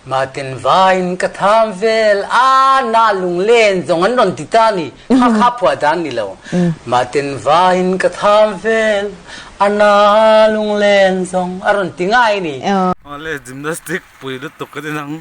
Martin vain ka tham vel a, nah lunglen zawng an rawn ti ta ni, kha kha phuah dan ni lo. Martin vain ka tham vel a, nah lunglen zawng a rawn ti ngai ni. Mahle gymnastic pui lutuk ka ti nang.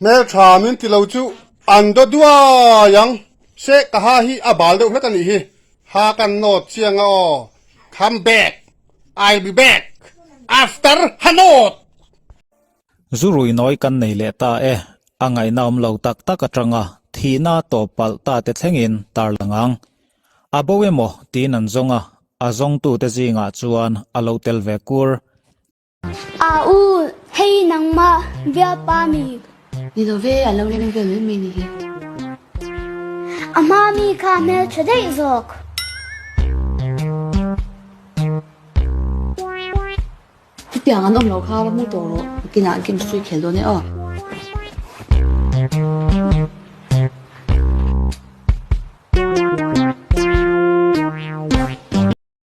Hmel tha min ti lo chu an do duai ang. Se ka ha hi a bal deuh hlat a nih hi. Ha kan nawt chiang a aw. Come back. I'll be back. After ha nawt. Zu rui nawi kan nei leh ta e. A ngaihna awm lo tak tak atanga thihna tawp palh ta te thlengin tarlang ang. A bo emaw tiin an zawng a, a zawngtute zingah chuan a lo tel ve kur. A u, hei hi nangmah biapa a ni. Ni lo ve, a lo rem ve leh mai a ni hi. A hma mi kha a hmeltha daih zawk. Chutiang an awm lo kha va hmu tawh rawh. Bikin ah game hrui khel dawn e aw.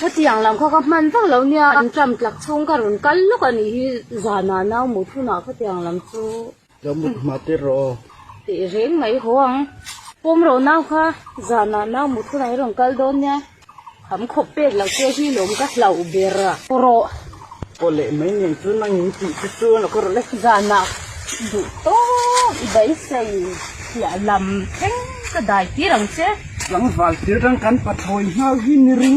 Khatiang lam kha ka hman vak lo nia, in ṭam tlak chhung ka rawn kal lawk a nih hi zanah nau mut hunah khatiang lam chu ka mut hma tir rawh tih reng mai haw ang. Pawm rawh nau kha zanah nau mut hunah i rawn kal dawn nia, kham khawp pek loh che hi lawm ka hlauh ber a, pawh rawh. Pawh leh mai nen chu nang in tih te chu a la kawrh le. Zanah duh tawh i beisei hliah lam thleng ka dai tir ang che. Tlangval thil rang kan pa thawi nghal hi ni ring a.